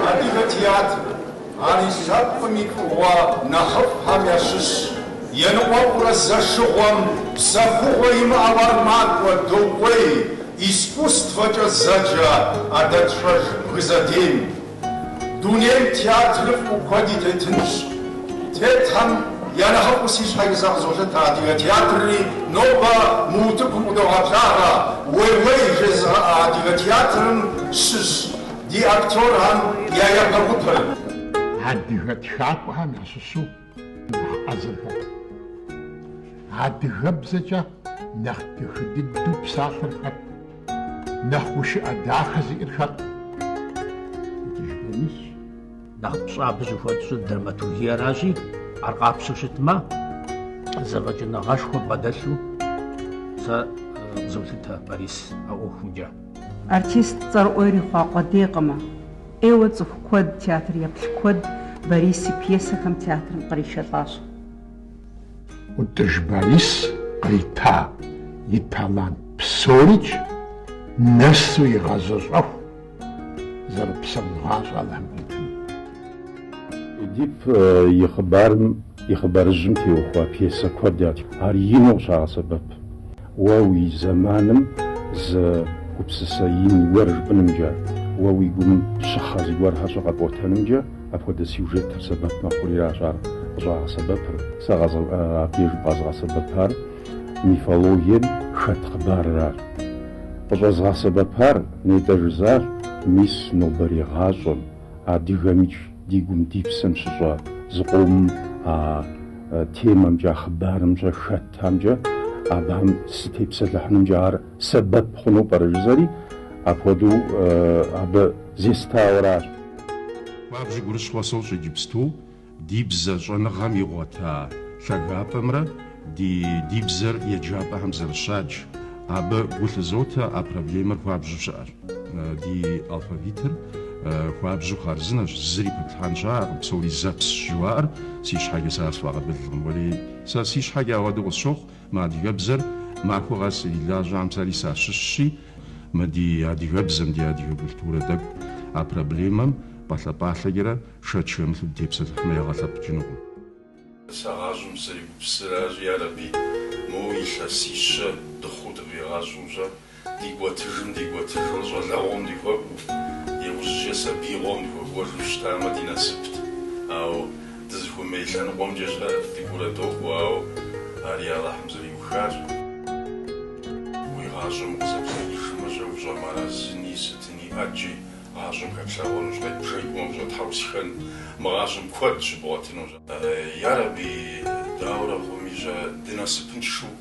Адыгэ театрыр, ар и лъэпкъым и фӏыгъуэ нэхъыфӏхэм ящыщщ. Еныкъуэкъурэ зэшыгъуэм псэхугъуэ имыӏэу ар макӏуэ докӏуей искусствэкӏэ зэджэ ӏэдэтщӏэж бгы задэм. Дунейм театрыфӏ куэди тетынщ. Тетхэм я нэхъыфӏым си щхьэкӏэ сэ къызолъытэ адыгэ театрри нобэ мы утыкум къыдогъэблагъэ. Уей-уей жезыгъэӏэ адыгэ театрым щыщ ди актерхэм я япэ гупыр. Адыгэ тхакӏуэхэм ящыщу Хьэзыркъуэ. Адыгэбзэкӏэ нэхъ дахэ дыдэу псалъэр хэт? Нэхъ гушыӏэ дахэ зиӏэр хэт? Утӏыж Борисщ. Нэхъ пщӏэ абы щыхуэтщӏыр драматургиеращи, ар къапщтэу щытмэ, зэфӏэкӏыныгъэшхуэ бгъэдэлъу сэ къызолъытэ Борис а ӏуэхумкӏэ. Артист цӏэрыӏуэ ирихъуа къуэдейкъымэ. Ӏейуэ цӏыху куэд, театр еплъ куэд Борис и пьесэхэм театрым къришэлӏащ. Утӏыж Борис кърита и талант псорикӏ нэсу игъэзэщӏэху зэрыпсэун гъащӏэ Алыхьым къитыну. Эдип и хъыбарым И хъыбарыжьым теухуа пьесэ куэд ятх, ар ину къыщагъэсэбэп уэ уи зэманым зы гупсысэ ин гуэр жыпӏынымкӏэ, уэ уи гум щыхъэ зыгуэрхэрикӏ къэпӏуэтэнымкӏэ апхуэдэ сюжетыр сэбэп мэхъуриращ ар къыщӏагъэсэбэпыр. Сэ абдежым къэзгъэсэбэпар мифологием хэт хъыбарыращ. Къыщӏэзгъэсэбэпар, нетӏэ жызар, мис нобэрей гъащӏэм. Адыгэмикӏ ди гум ди псэм щыщӏэ зыкъомым а темэмкӏэ, а хъыбарымкӏэ хэтхэмкӏэ, абыхэм сытепсэлъыхьынымкӏэ ар сэбэп хъуну пӏэрэ жызэри, апхуэдэу абы зестауэращ. Хуабжьу гурыщхъуэ сощӏ иджыпсту Ди бзэ щӏэныгъэм игъуэта лъагапӏэмрэ ди ди бзэр еджапӏэхэм зэрыщадж, абы гу лъызотэ а проблемэр хуабжьу щыӏэр. Ди алфавитыр хуабжьу хъарзынэщ, зыри пэплъхьэн щыӏэкъым, псори зэпсщ жыхуаӏэр си щхьэкӏэ сэ ар сфӏэкъабылкъым. Уэрей, сэ си щхьэкӏэ ауэдэу къысщохъу, мы адыгэбзэр махуэ къэс ирилажьэхэм, сэри сащыщщи, мы ди адыгэбзэм, ди адыгэ культурэ тӏэкӏу а проблемэм пӏалъэпӏалъэкӏэрэ шэч хэмылъу дытепсэлъыхьмэ ягъэ лъэпкъ кӏынукъым. Сэ гъащӏэм сызэрегупсысыр аращи, ярэби, моуэ илъэсищэ дыхъуу дыкъигъэщӏу щӏэ, дикӏуэтыжым-дикӏуэтыжурэ щӏалэгъуэм дыхуэкӏуу, иужьчӏэ сабиигъуэм дыхуэкӏуэжу щытамэ ди насыпт, ауэ дызыхуэмей лъэныкъуэмкӏэ щӏэ дыкӏуэурэ докӏуэ, ауэ ари Алыхьым зэриухащ. Уи гъащӏэм укъызэплъэкӏыжмэ щӏэ ущӏэмыарэзыни, сытыни ӏэджи Гъащӏэм хэплъэгъуэнущ, къедбжэкӏмэ ущӏэтхьэусыхэну мы гъащӏэм куэд щыбгъуэтынущ. Ярэби, дауэрэ хъуми, жьэ дынасыпыншэу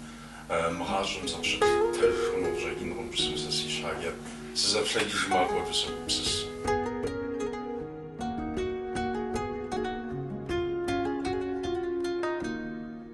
мы гъащӏэм зыкъыщытлъытэж хъуну къыщӏэкӏынкъым, жысӏэу сэ си щхьэкӏэ сызэплъэкӏыжмэ апхуэдэу согупсыс.